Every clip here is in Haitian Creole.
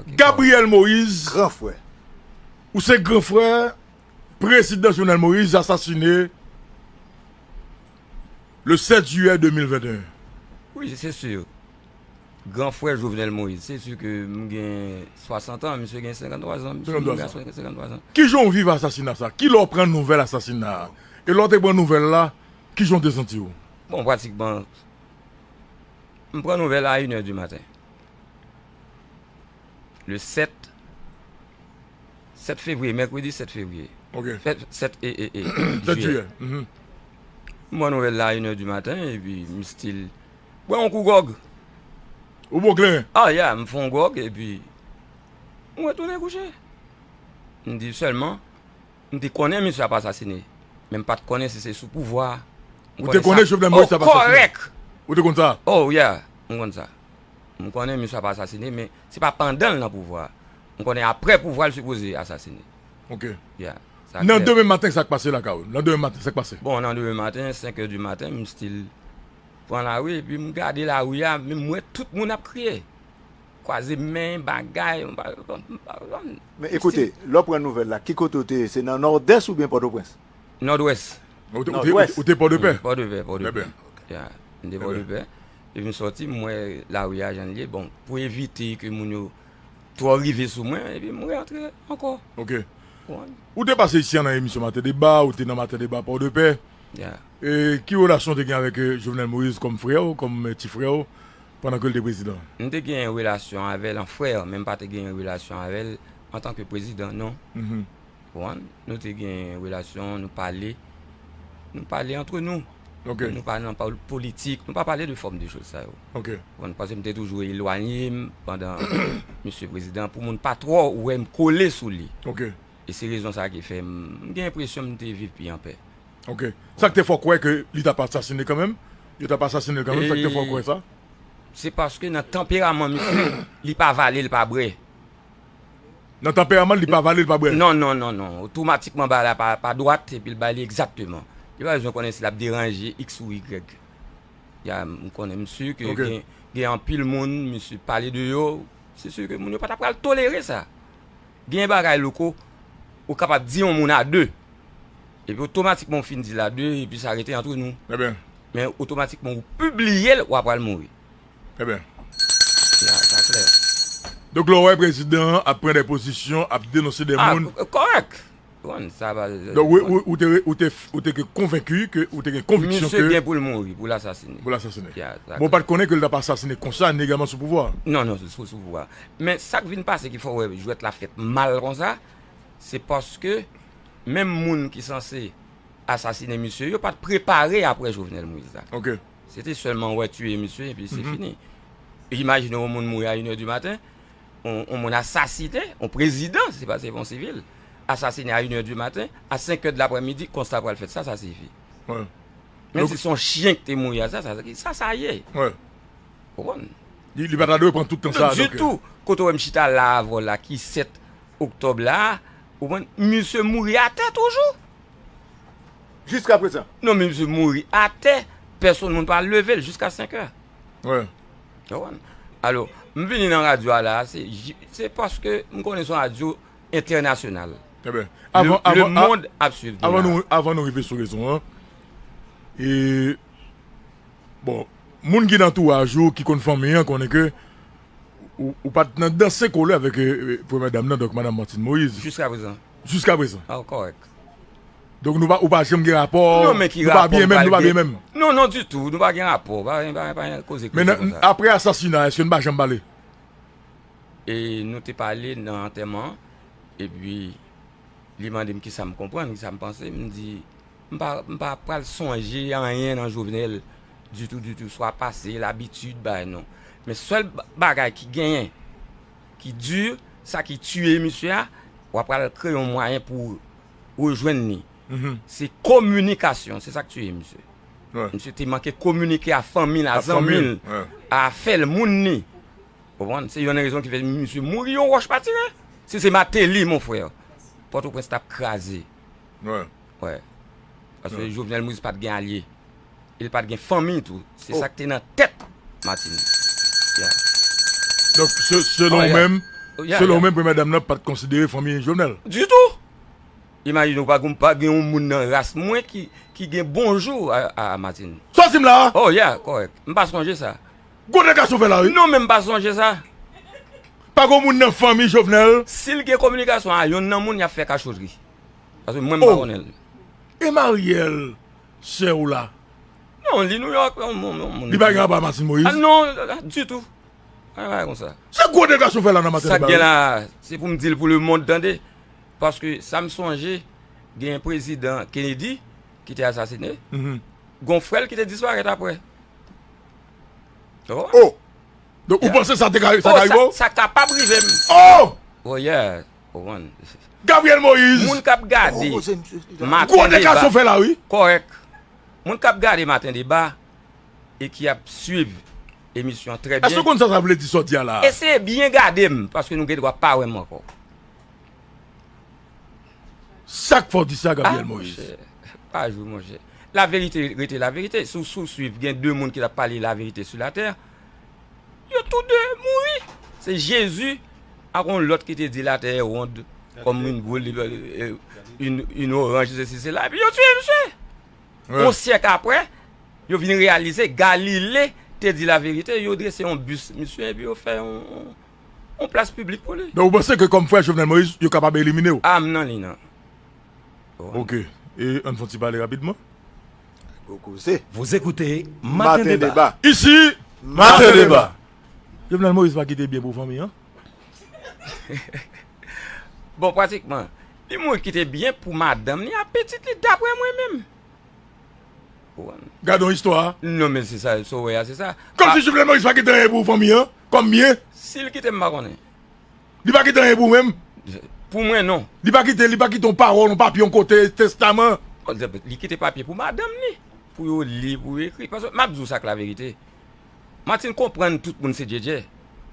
Gabriel Moïse gran frè Ou se gran frè Prezidan Jovenel Moïse asasine Le 7 jiyè 2021 Wi se sur Gran frè Jovenel Moïse. Se su ke m gen 60 an, misye gen 53 zan. 53 zan. Kijan w viv asasina sa? Kilè w pran nouvèl asasina a? E lè w te pran nouvèl la, kijan w te santi w? Bon, pratikman, m pran nouvèl a inè di maten. Le 7, 7 fevriye, mèkredi 7 fevriye. Ok. 7 e, e, e, jiyè. 7 jiyè. M pran nouvèl la a inè di maten, epi m stil. Bwè yon kou gòg. Ou bo kleren? Ah yeah, m fè yon gòg epi m retounen kouche. M di sèlman, m te konnen misye ap asasine, men m pa t konnen si se sou pouvwa. Ou te konnen Jovenel Moïse t ap asasine? Oh, kòrèk! Ou te konn sa? Oh yeah, m konn sa. M konnen misye ap asasine, men se pa pandan l nan pouvwa. M konnen aprè pouvwa l sipoze asasine. Ok. Yeah, sa klè. Nan demen maten sa k pase lakay ou? Nan demen maten sa k pase? Bon, nan demen maten, 5 è di maten, m still. Pran lari epi m gade lari a men m wè tout moun ap kriye, kwaze men, bagay, m pa konprann. Men ekoute, lè w pran nouvèl la, ki kote ou te ye? Se nan Nòdès oubyen Pòtoprens? Nòdwès. Nòdwès? Ou te Pòdepè? Pòdepè, Pòdepè. Ya, m te Pòdepè. Epi m sòti, m wè lari a jan l ye. Bon, pou evite ke moun yo twò rive sou mwen, epi m reyantre ankò. Ok. Ou te pase ici an nan emisyon Maten Deba, ou te nan Maten Deba Pòdepè. Ya. E ki relasyon w te gen avèk Jovenel Moïse kòm frè w, kòm ti frè w pandan ke l te prezidan? M te gen yon relasyon avè l an frè, men m pa te gen yon relasyon avè l antan ke prezidan non. Konprann? Nou te gen yon relasyon, nou pale, nou pale antre nou. Men nou pa nan politik, nou pa pale de fòm de choz sa yo. Konprann? Paske m te toujou elwanye m pandan misye prezidan pou moun pa twò wè m kole sou li. E se rezon sa ki fè m gen enpresyon m te viv pi anpè. Ok. Sa k te fè w kwè ke li t ap asasine kanmenm? Yo t ap asasine l kanmenm? Sa k te fè w kwè sa? Se paske nan tanperaman misye, li pa vale, li pa bre. Nan tanperaman l, li pa vale, li pa bre? Non, non, non, non. Otomatikman bagay la pa dwat epi l bay li egzakteman. Li pa bezwen konnen si l ap deranje iks ou igrèg. Ya, m konnen m si ke gen anpil moun misye pale de yo, se si ke moun yo pa ta pral tolere sa. Gen bagay louko ou kapab di yon moun a de epi otomatikman ou fin di l a de epi sa rete antre nou men otomatikman ou pibliye l wa pral mouri. Sa klè. Donk lè w wè prezidan an ap pran dè pozisyon, ap denonse dè moun. Kòrèk. Konn sa pa vle Donk di konn. ou te ou te ou te ke konvenki ke ou te gen konviksyon ke. Misye gen pou l mouri, pou l asasine. Pou l asasine. Ya, sa klè. Bon, ou pa t konnen ke l t ap asasine konsa legalman sou pouvwa a? Non, non, sou sou pouvwa a. Men, sa k vin pase ki fè w wè jwèt la fèt mal konsa, se paske menm moun ki sanse asasine misye yo pa t prepare apre Jovenel Moïse la. Ok. Se te sèlman wè tiye misye epi se fini. Imajine yon moun mouri a inèdimaten, yon moun asasinen, yon prezidan, se pa se yon sivil, asasinen a inè di maten, a senkè de laprè midi, konsta pral fèt, sa sa sifi. Menm si son chyen ki te mouri a sa, sa sa ye. Ou konn? Li pa ta dwe pran tout tan sa. Di tou, kote ou wè m chita la avè w la ki 7 oktòb la, ou konn, misye mouri atè toujou. Jiska prezan? Non, misye mouri atè, pèsonn moun pa leve l jiska senkè. Wi. Alo, m vini nan radyo a la, se paske m konnen son radyo entènasyonal. Le mond ap swiv nou la. Avan nou rive sou rezon an, e, bon, moun ki nan antouraj ou, ki konn fanmi an, konnen ke ou pa t nan danse kole avèk premyè dam nan, donk madan Martine Moïse. Jiska prezan. Jiska prezan. Kòrèk. Donk nou pa ou pa janm gen rapò Non men ki rapò m pral gen Non non ditou nou pa gen rapò pa gen pa gen koze koze konsa Men aprè asasina èske nou pa janm pale E nou te pale nan antèman E pi li mande m kisa m konprann kisa m panse m di M pa m pa pral sonje anyen nan jovenel ditou ditou swa pase labitid bay non Men sèl bagay ki genyen ki di sa ki tiye misye a w apral kreye yon mwayen pou rejwenn li se kominikasyon se sak tiye misye misye te manke kominike a fanmi l a zanmi l a afè l moun li ou konprann se yon nan rezon ki fè misye mouri yon wòch pa tire si se Mateli mon frè pòtoprens t ap kraze paske Jovenel Moïse pat gen alye. e l pa t gen fanmi tou. Se sa k te nan tèt Martine. Donk, selon ou menm, selon ou menm premyè dam nan pa t konsidere fanmi Jovenel? Ditou! Imajine w, pa gen yon moun nan ras mwen ki gen bonjou a Martine. Sa w di m la a? Oh ya, kòrèk. M pa sonje sa. Gwo dega sou fè la wi. Non men m pa sonje sa. Pa gen yon moun nan fanmi Jovenel? Si l gen kominikasyon a yonn nan moun y ap fè kachotri. Paske mwen m pa konnen l. E Marielle? Sè ou la. Non, li New York. Li pa gen rapò ak Martine Moïse? Non, du tout. Pa gen bagay konsa. Se gwo degrasyon ou fè la nan maten an. Sa k gen la, se pou m di l pou lemond tande. Paske sa m sonje, gen yon prezidan Kennedy ki te asasine. Gon frè l ki te disparèt apre. O! Donk ou panse sa te ka rive w? Sa kapab rive m. O! O yeah! Ou konn. Gabriel Moïse. Moun kap gade maten deba kòrèk. Moun kap gade maten deba e ki ap swiv emisyon an trè byen. Èske ou konn sa sa vle di sa w di a la a? Eseye byen gade m paske nou gen dwa pa wè m ankò. Sak fè w di sa Gabriel Moïse? Ah monchè, pa jwe monchè. La verite rete la verite. Si w swiv gen 2 moun ki tap pale la verite sou la tè. Yo tou de mouri. Se Jezi ak yon lòt ki te di latè wond kòm yon boul, yon oranj, sesi sela, epi yo tiye misye. Yon syèk apre, yo vin reyalize Galile te di laverite, yo drese yon bis misye epi yo fè yon plas piblik pou li. Donk ou panse ke kòm frè Jovenel Moïse, yo kapab elimine ou? A m nan li nan. Ok. E ann fè yon ti pale rapidman. Gwo koze. Vous écoutez Matin Débat. Ici Matin Débat. Jovenel Moïse pa kite byen pou fanmi an. Bon pratikman li mouri kite byen pou madanm li ak pitit li daprè mwen menm. Ou konn. Gadon istwa. Non men se sa sa w wè a se sa. Kòmsi Jovenel Moïse pa kite anyen pou fanmi an kòm byen. Si l kite m pa konnen. Li pa kite anyen pou mwen. Pou mwen non. Li pa kite, li pa kite yon pawòl, yon papye yon kote, testaman. Li kite papye pou madanm li. Pou yo li, pou yo ekri. Paske map di w sa k laverite. Martine konprann tout moun se Djédjé.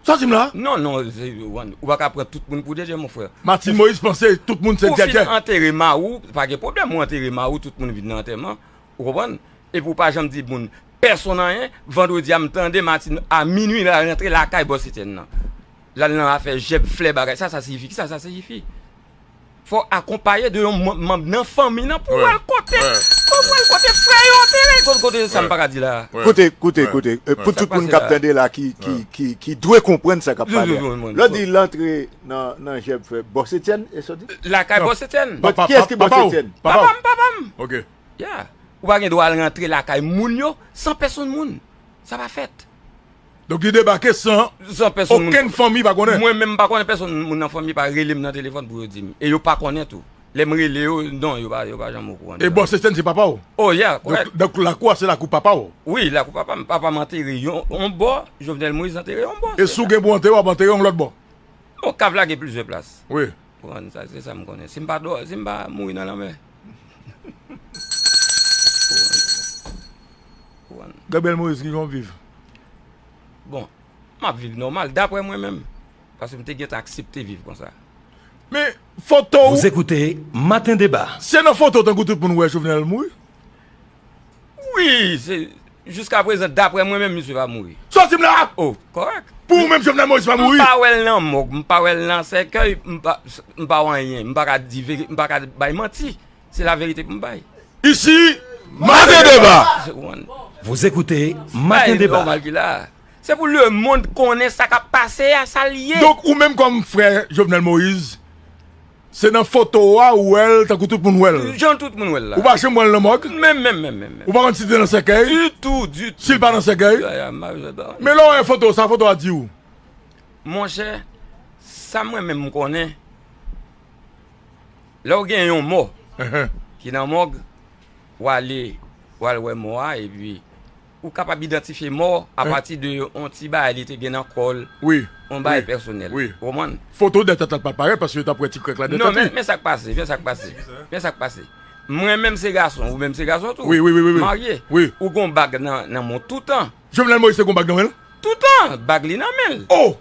Sa w di m la? Non, non. Ou pa ka pran tout moun pou Djédjé mon frè. Martine Moïse panse tout moun se Djédjé. Ou fin antere ma ou, pa gen pwoblèm ou antere ma ou, tout moun vin nan antèman. Ou konprann? Epi ou pa janm di moun pèsonn anyen, vandredi a m tande Martine a minwi la rantre lakay Bòs Etyèn nan. L al nan afè jèb flè bagay sa sa siyifi, kisa sa siyifi? Fò w akonpaye de yon manm nan fanmi nan pou w al kote, pou w al kote frè yo te ye, kote sa m pa ka di la a. Kote, kote, kote, pou tout moun k ap tande la ki, ki, ki, ki dwe konprann sa k ap pale a. Lè w di l antre nan, nan jèb flè Bòs Etyèn, e sa w di? Lakay Bòs Etyèn. Kiyès ki Bòs Etyèn? Papa w. Papa m, papa m. Ok. Ya! Ou pa gen dwa al rantre lakay moun yo san pèsonn moun. Sa pa fèt. Donk li debake san okenn fanmi pa konnen? Mwen menm m pa konnen, pèsonn moun nan fanmi pa rele m nan telefòn pou yo di m. E yo pa konnen tou. Lè m rele yo, non, yo pa janm okouran de sa. E Bòs Estèn se papa w? O ya! Kòrèk. Donk lakou a se lakou papa w? Wi, lakou papa m. Papa m antere yon bò, Jovenel Moïse antere yon bò. E si w gen pou w antere w ap antere yon lòt bò? Bon, kav la gen plizyè plas. Wi. Ou konprann? Se sa m konnen. Si m pa mouri nan lanmè. Gabriel Moïse ki jan w viv? Bon, m ap viv nòmal, daprè mwen menm. Paske m te gentan aksepte viv konsa. Men, foto w. Vous écoutez Matin Débat. Se nan foto tankou tout moun wè Jovenel mouri. Wi, se, jiska prezan, daprè mwen menm misye pa mouri. Sòti m la! O, kòrèk. Pou ou menm Jovenel Moïse pa mouri? M pa wè l nan mòg, m pa wè l nan sèkèy, m pa, m pa wè anyen. M pa ka di veri, m pa ka bay manti. Se laverite pou m bay. Isi, Maten Deba! Vous écoutez Matin Débat. Sa e nòmal ki la a. Se pou lemond konnen sa k ap pase a, sa l ye. Donk ou menm kòm frè Jovenel Moïse. Se nan foto a ou wè l tankou tout moun wè l. Jan tout moun wè l la. Ou pa janm wè l nan mòg. Menm menm menm menm. Ou pa konn si l te nan sèkèy. Ditou ditou. Si l pa nan sèkèy. Men lè w wè foto sa foto a di w. Monchè sa mwen menm konnen lè w gen yon mò ki nan mòg w ale w al wè mò a epi. Ou kapab idantifye mò a pati de yon ti bagay li te gen nan kò l, yon bagay pèsonèl. Ou konprann? Foto dètèt la t pa parèt paske yo t ap wè ti krèk la dètèt li. Non, men, men sa k pase, men sa k pase, men sa k pase. Mwen menm se gason, ou menm se gason tou. Wi, wi, wi, wi, wi. Marye. Wi. Ou gon bag nan, nan men w toutan. Jovenel Moïse te gon bag nan men l? Toutan! Bag li nan men l. O!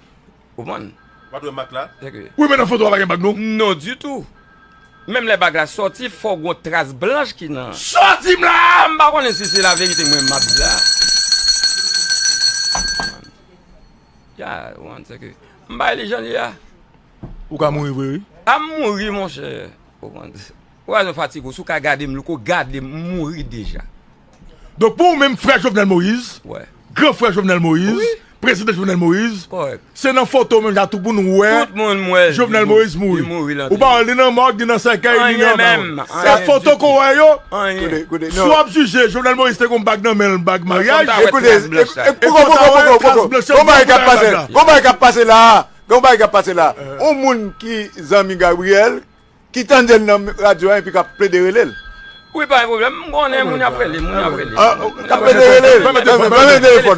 Ou konprann? Ou pat wè mak la? Wi men nan foto a pa gen bag non. Non ditou. Menm lè bag la sòti fò gon tras blanch ki nan. Sòti m la! M pa konnen si se laverite mwen map di la. Ya, ou konprann se ke m bay li jan li ya. Ou ka mouri vre wi. A m mouri monchè. Ou konprann? Ou wè jan fatig ou si w ka gade m louko gade m mouri deja. Donk pou ou menm frè Jovenel Moïse, gran frè Jovenel Moïse, prezidan Jovenel Moïse, se nan foto menm jan tou pou nou wè Jovenel Moïse mouri. Ou pa wè li nan mòg, li nan sèkèy, li nan nan. Se foto kou wè yo, si w ap jije Jovenel Moïse te kon bag nan men l, bag maryaj. Ekoute, ekoute, ekoute, ekoute. Ki tandel nan radio an epi kap plede relel. Wi pa gen pwoblèm, m konnen moun ap rele, moun ap rele. Kap plede rele. Ban mwen telefòn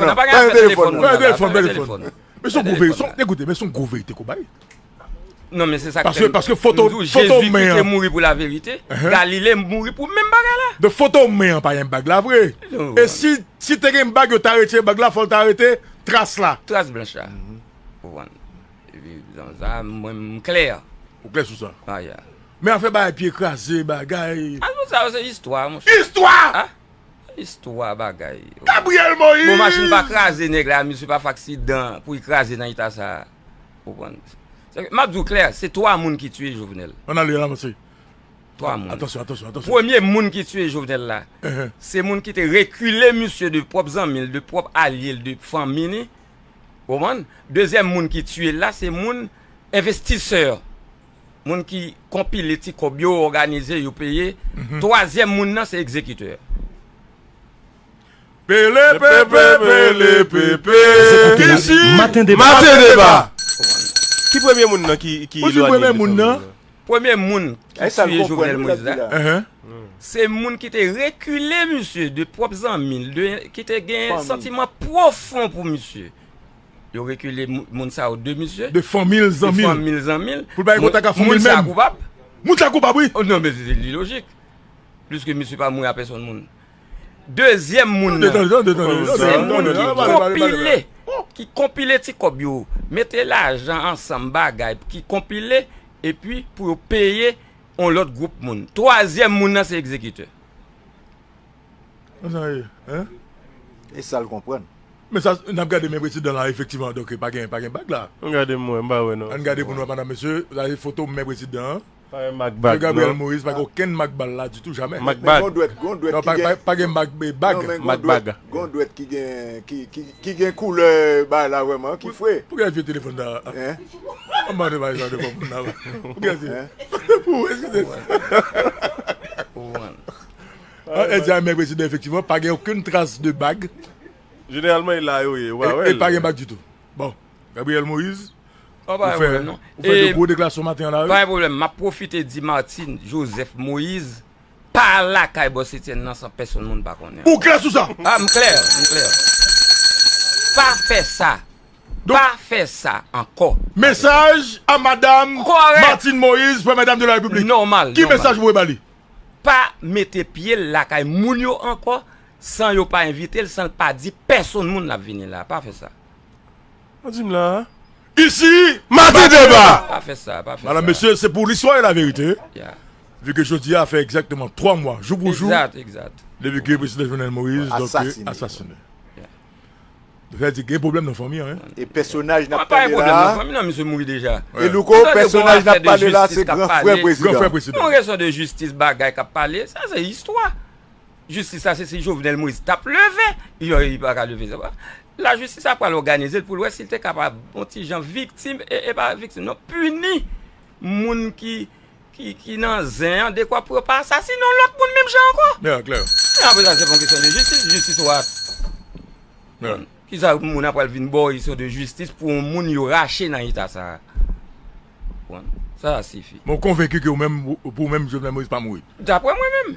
nan. Men son gwo verite, ekoute men son gwo verite k'ou bay. Non men se sa k fè m di w Jezi ki te mouri pou la verite, Galile mouri pou menm bagay la. Donk foto men an pa gen bag la vre. E si te gen bag yo ta retire bag la fò l ta rete tras la. Tras blanch la. Ou konprann. Zanzan mwen m klè. Ou klè sou sa? Ah ya. Men afè bagay pye kraze, bagay. Ah non sa yo se istwa monchè. Istwa! Ah! Istwa bagay. Gabriel Moïse! Bon machin pa kraze nèg la, misye pa fè aksidan pou li kraze nan eta sa a. Ou konprann? M ap di w klè, se 3 moun ki tiye Jovenel. An ale, an avanse. 3 moun. Atansyon, atansyon, atansyon. Premye moun ki tiye Jovenel la, se moun ki te rekile misye de pwòp zanmi l, de pwòp alye l, de fanmi li. Ou konprann? Dezyèm moun ki tiye l la se moun envestisè, moun ki konpile ti kòb yo, òganize yo peye. Twazyèm moun nan se egzekitè. Pelepepe, pelepepe, ici Matin Débat! Ki premye moun nan ki lwanye defen moun nan? Premye moun ki tiye Jovenel Moïse la, se moun ki te rekile misye de pwòp zanmi l, ki te gen santiman pwofon pou misye. Yo rekile moun sa yo de misye. De fanmi l, zanmi l. De fanmi l, zanmi l. Pou l pa gen kontak ak fanmi l menm. Moun sa koupab. Moun sa koupab wi. Non men se lilojik. Pliske misye pa mouri a pèsòn moun. Dezyèm moun nan se moun ki konpile, ki konpile ti kòb yo, mete lajan ansanm bagay pou ki konpile epi pou yo peye yon lòt gwoup moun. Twazyèm moun nan se egzekitè. Konsa ye, hein? E sal konprann. Men sa n ap gade men prezidan la efektivman donk pa gen bag la. An gade m wè, m pa wè non. An gade pou n wè madam mesye, sa se foto men prezidan an. Mwen Gabriel Moïse pa gen okenn mak bal la ditou jamè. Mak bag. Non pa gen mak bag. Mak bag. Gon dwèt ki gen ki gen koulè bay la vrèman ki fre. Poukisa ou jwe telefòn sa a? An bann ou bay sa devan moun la. Poukisa se fakte pou ou eskize m. Èd sa mèg prezidan efektivman pa gen okenn tras de bag. Jeneralman e la yo ye ou pa wè l. E pa gen bag ditou. Bon, Gabriel Moïse, ou fè de gwo deklasyon maten an la wi. Pa gen pwoblèm, map pwofite di Martine Joseph Moïse pa lakay Bòs Etienne nan san pèsonn moun pa konnen. Ou klè sou sa? A, m klè, m klè. Pa fè sa, pa fè sa ankò. Mesaj a madam Martine Moïse, Premyè Dam de la Repiblik. Nòmal, nòmal. Ki mesaj ou voye ba li? Pa mete pye l lakay moun yo ankò, San yo pa envite l, san l pa di pèsonn moun l ap vini la. Pa fè sa. Ou di m la a? Isi, Madi Deba! Pa fè sa, pa fè sa. Madam, mesye, se pou listwa e laverite, vi ke jodi a fè egzakteman 3 mwa, jou pou jou, depi ke Prezidan Jovenel Moïse asasine. Nou fè di gen pwoblèm nan fanmi an. E pèsonaj n ap pale la a? E louko, pèsonaj n ap pale la a se gran frè Prezidan. Yon kesyon de jistis bagay k ap pale, sa se istwa. Jistis la se si Jovenel Moise t ap leve yo li pa ka leve se pa lajistis la pral òganize l pou l wè si l te kapab on ti jan viktim e pa viktim non pini moun ki nan zen an dekwa pou yo pa asasine on lòt moun menm jan ankò e apre sa se pa yon kesyon de jistis jistis ou a kisa moun ap pral vin ba w istwa de jistis pou on moun yo rache nan eta sa a bon sa a sifi. Men w konvenki ke ou menm pou ou menm Jovenel Moise pa mouri? Daprè mwen menm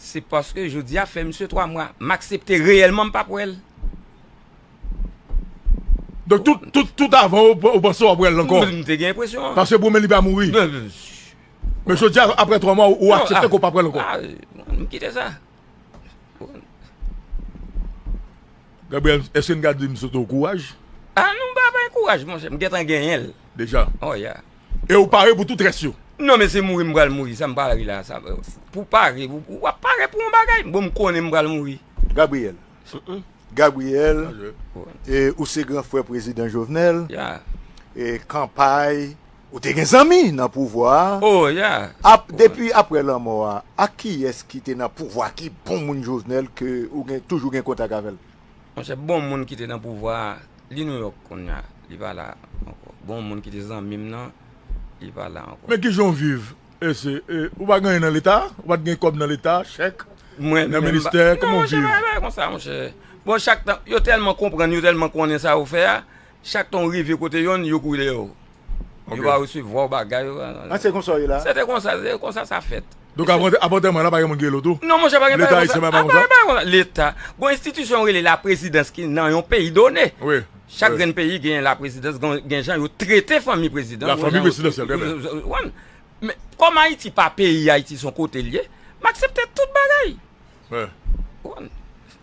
Se paske jodi a fè misye 3 mwa. M aksepte reyèlman m pap wè l. Donk tout, tout, tout avan ou ou panse w ap wè l ankò? M te gen enpresyon an. Paske pou w menm li pa mouri. Men jodi a aprè 3 mwa ou aksepte ke w pap wè l ankò? M kite sa. Gabriel, èske n ka di misye te w kouraj? A non m pa bay kouraj monchè, m gentan genyen l. Deja? Oh ya. E ou pare pou tout rès yo? Non men se mouri m pral mouri sa m pral ri la sa pou w pare ou ap pare pou yon bagay bon m konnen m pral mouri. Gabriel Gabriel e ou se gran frè prezidan Jovenel e kanpay ou te gen zanmi nan pouvwa a depi aprè lanmò a ak kiyès ki te nan pouvwa ki bon moun Jovenel ke ou gen toujou gen kontak avè l? Monchè bon moun ki te nan pouvwa a li New York kounya li pa la ankò bon moun ki te zanmim nan li pa la ankò. Men kijan w viv ese ou pa gen anyen nan leta ou pat gen kòb nan leta chèk nan ministè kòman w viv. Mwen menm non monchè se pa yon bagay konsa monchè bon chak tan yo tèlman konprann yo tèlman konnen sa yo fè a Chak tan ou rive kote yonn, yo kouri dèyè ou. Yo pa resevwa ou bagay. Ah se konsa w ye la? Se te konsa, se konsa sa fèt. Donk avan tèman an la pa gen moun ki rele w tou? Non monchè pa gen bagay konsa. Leta ayisyen pa gen bagay konsa? Leta, gon enstitisyon yo rele laprezidans ki nan yon peyi done. Wi. Chak grenn peyi gen laprezidans, gen jan yo trete fanmi prezidan. La fanmi prezidansyèl, trè byen. Ou konprann? Men, kòm Ayiti pa peyi, Ayiti se yon kote l ye, m aksepte tout bagay. Ou konprann?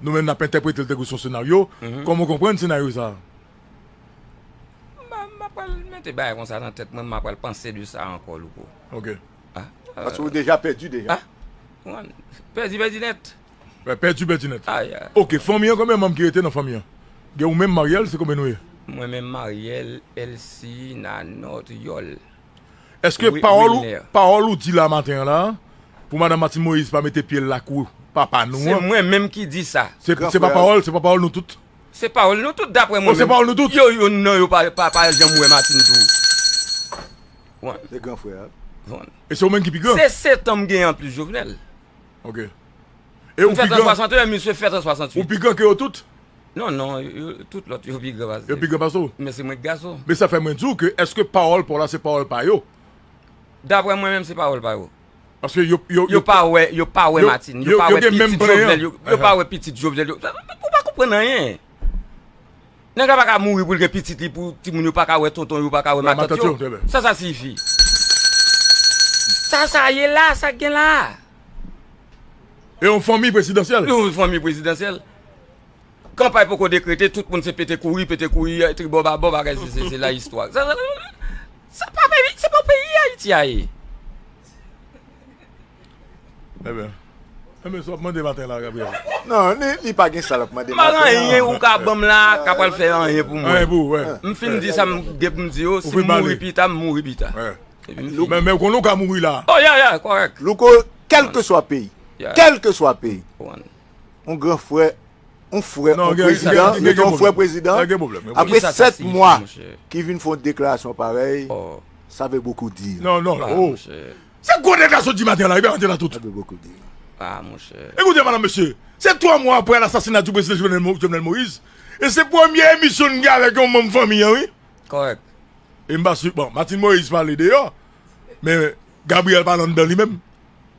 Nou menm nap entèprete l tankou son senaryo, kòman w konprann senaryo sa a? M apral mete bagay konsa nan tèt mwen, m apral panse de sa ankò Louko. Ok. Paske ou deja pèdi deja. Pèdi pèdi nèt. Pèdi pèdi nèt. Ok, fanmi an konbyen manm ki rete nan fanmi an? Gen ou menm Mariel se konbyen nou ye? Mwen menm Mariel, Elsie, Nanot, Yòl. Eske pawòl pawòl ou di la maten an la pou madame Martine Moïse pa mete pyel lakou papa nou an. Se mwen menm ki di sa. Se pa pawòl se pa pawòl nou tout. Se pawòl nou tout daprè mwen menm. O se pawòl nou tout. Yo youn nan yo pa janm wè Martine tou. Wan. Se gran frè a. Wan. E se ou menm ki pi gran. Se setan m gen anplis Jovenel. Ok. M fèt an 61 misye fèt an 68. Ou pi gran ke yo tout? Non, non, tout lòt yo pi gran pase. Yo pi gran pase w? Men se mwen ki gason. Men sa fè mwen di w ke eske pawòl pa w la se pawòl pa yo? Daprè mwen menm se pawòl pa yo. Paske yo, yo, yo pa wè, yo pa wè Martine, yo pa wè pitit Jovenel, yo pa wè pitit Jovenel. Ou pa konprann anyen. Nèg la pa ka mouri pou l gen pitit li pou timoun yo pa ka wè tonton yo, pa ka wè matant yo. Sa sa siyifi? Sa sa ye la, sa gen la? E yon fanmi prezidansyèl? Yon fanmi prezidansyèl. Kanpay poko dekrete tout moun se pete kouri pete kouri tribò babò bagay se se se la istwa sa pa peyi se pa peyi ayiti a ye. Ebyen ebyen sa wap mande maten la Gabriel. Non li pa gen sa lap mande maten an. M'pa gen anyen ou ka banm la ka pral fè anyen pou mwen. Anyen pou ou wè. M'fin di sa m'gen pou m'di yo si m'mouri pita m'mouri pita. Men ou konnen ou ka mouri la. Oh ya ya kòrèk. Louko kelkeswa peyi kelkeswa peyi. yon gran frè, yon frè, yon prezidan, yon gen yon frè prezidan, apre 7 mwa ki vin fon deklarasyon parèy, sa vè bokou di. Non, non, oh, se gwo nèg la sot di maten la, e bè antre la tout. Sa vè bokou di. A, mon chè. E koute madan mesye, se 3 mwa apre lasasina di prezidan Jovenel Moïse, e se premye emisyon n gen avèk yon manm fanmi an wi. Kòrèk. E m pa si, bon, Martine Moïse pale deyò, men Gabriel pale anndan li menm.